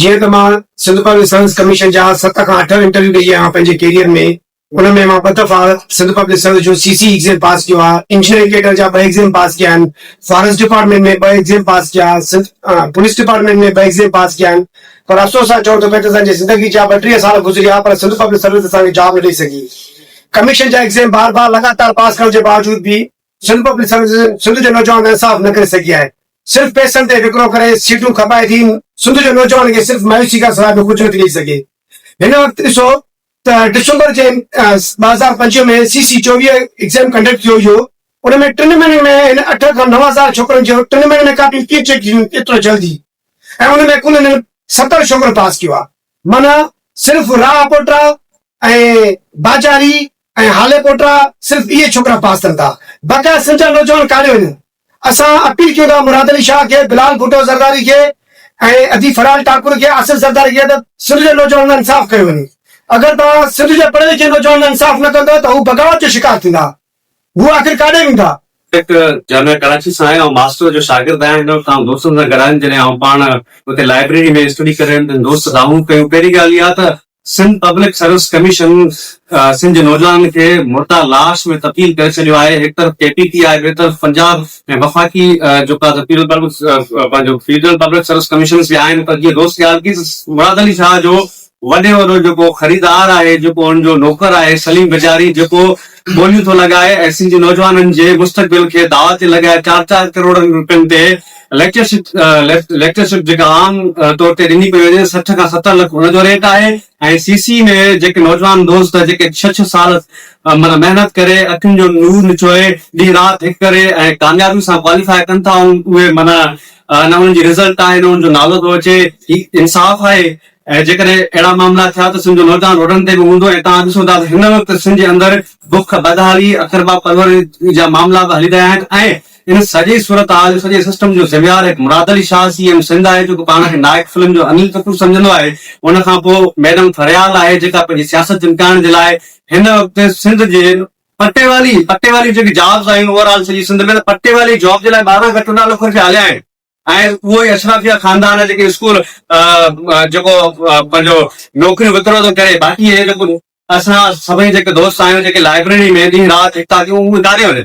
جيئن ته مان سنڌ پبلڪ سروس ڪميشن جا ست کان اٺ انٽرويو ڏيئي آيو آهيان پنهنجي ڪيريئر ۾، ان ۾ مان ٻه دفعا سنڌ پبلڪ سروس جو سي سي ايگزيم پاس ڪيو آهي، انجنيئرنگ ڪيڊر جا ٻه ايگزيم پاس ڪيا آهن، فاريسٽ ڊپارٽمينٽ ۾ ٻه ايگزيم پاس ڪيا، سنڌ پوليس ڊپارٽمينٽ ۾ ٻه ايگزيم پاس ڪيا آهن پر افسوس سان چئون ٿو پئي ته اسان جي زندگي جا ٻٽيهه سال گذريا پر سنڌ پبلڪ سروس اسان کي جاب نه ڏئي سگهي. ڪميشن جا ايگزيم بار بار لڳاتار پاس ڪرڻ جي باوجود به سنڌ پبلڪ سروس سنڌ جو نوجوان انصاف نه ڪري سگهي آهي، صرف پئسن تي وڪرو ڪري سيٽون کپائي ٿي، سنڌ جو نوجوان کي صرف مايوسي کان سواء ٻيو ڪجهه نه ٿي ڏئي سگهي. هن وقت ڏسو ته ڊسمبر جي ٻه هزار پنجويهه ۾ سي سي چوويهه ايگزام ڪنڊڪٽ ٿيو هيو ان ۾ ٽن مهينن ۾ هن اٺ کان نو هزار ڇوڪرن جو ٽن مهينن ۾ ڪاپيون ڪيئن چيڪ ٿيون ايترو جلدي ۽ ان ۾ ڪل هنن ستر ڇوڪرن پاس ڪيو آهي معنيٰ صرف راهه پوٽرا ۽ باجاري ۽ هالي پوٽرا صرف اهي ڇوڪرا پاس ٿين ٿا باقي سمجهه نوجوان ڪاڏي وڃن. اسان اپيل ڪيون ٿا مراد علي شاهه کي، بلال ڀٽو زرداري کي ۽ ادي ڦرال ٽاڪر کي آصف زرداري کي ته سنڌ جي نوجوانن لاء انصاف ڪيو وڃي. اگر توهان سنڌ جي پڙهي لکي نوجوانن لاء انصاف نه ڪندؤ ته هو بغاوت جو شڪار ٿيندا. هو آخر ڪاڏي ويندا؟ ٽيڪ جامعه ڪراچي سان آهي، آئون ماسٽر جو شاگرد آهيان هن وقت، آئون دوستن سان گڏ آهيم، جڏهن آئون پاڻ اتي لائبريري ۾ اسٽڊي ڪري رهيو هيم ته دوست دانهون ڪيون، پهرين ڳالهه اها ته Sindh public service commission Sindh جي نوجوانن کي مرده لاش ۾ تبديل ڪري ڇڏيو آهي، هڪ طرف ڪي پي ٽي آء ٻئي طرف پنجاب ۽ وفاقي جيڪا ته پنهنجو فيڊرل پبلڪ سروس ڪميشنز به آهن پر جيئن دوست خيال ڪيس مراد علي شاهه جو وڏي وڏو جيڪو خريدار آهي جيڪو ان جو نوڪر آهي سليم بجاري جيڪو ٻوليون ٿو لڳائي ۽ سنڌ جي نوجوانن جي مستقبل کي داء تي لڳائي چار چار ڪروڙن روپين تي ليڪچر شپ جيڪا عام طور تي ڏني پئي وڃي سٺ کان ستر لک ان جو ريٽ آهي ۽ سي سي ۾ جيڪي نوجوان دوست جيڪي ڇهه ڇهه سال معنيٰ محنت ڪري اکين جو نور نچوئي ڏينهن رات هڪ ڪري ۽ ڪاميابي سان ڪواليفائي ڪن ٿا ان اهي معنيٰ نه انهن جي رزلٽ آهي نه انهن جو نالو ٿو اچي هي انصاف آهي ۽ جيڪڏهن اهڙا معاملا ٿيا ته سنڌ جو نوجوان روڊن تي به هوندو ۽ توهان ڏسو ٿا ته هن وقت سنڌ جي اندر بک بدحالي اقربا پروري جا معاملا به هلي رهيا آهن ۽ ان سڄي صورتحال جو سڄي سسٽم جو ذميوار هڪ مراد علي شاهه سي ايم سنڌ آهي جيڪو پاڻ کي نائڪ فلم جو انل ڪپور سمجهندو آهي ان کان پوء ميڊم ٿريال آهي جيڪا پنهنجي سياست چمڪائڻ جي لاء هن وقت سنڌ جي پٽيوالي پٽيوالي جيڪي جابز آهن اوور آل سڄي سنڌ ۾ ته پٽيوالي جاب جي لاء ٻارهن کان چوڏهن لک روپيا هليا آهن ۽ اهو ئي اشرافيا خاندان جيڪي اسڪول جيڪو پنهنجو نوڪريون وڪرو ٿو ڪري باقي هي جيڪو اسان سڀئي جيڪي دوست آهيون جيڪي لائبريري ۾ ڏينهن رات هڪ ٿا ڪيون اهو ڪاڏي وڃن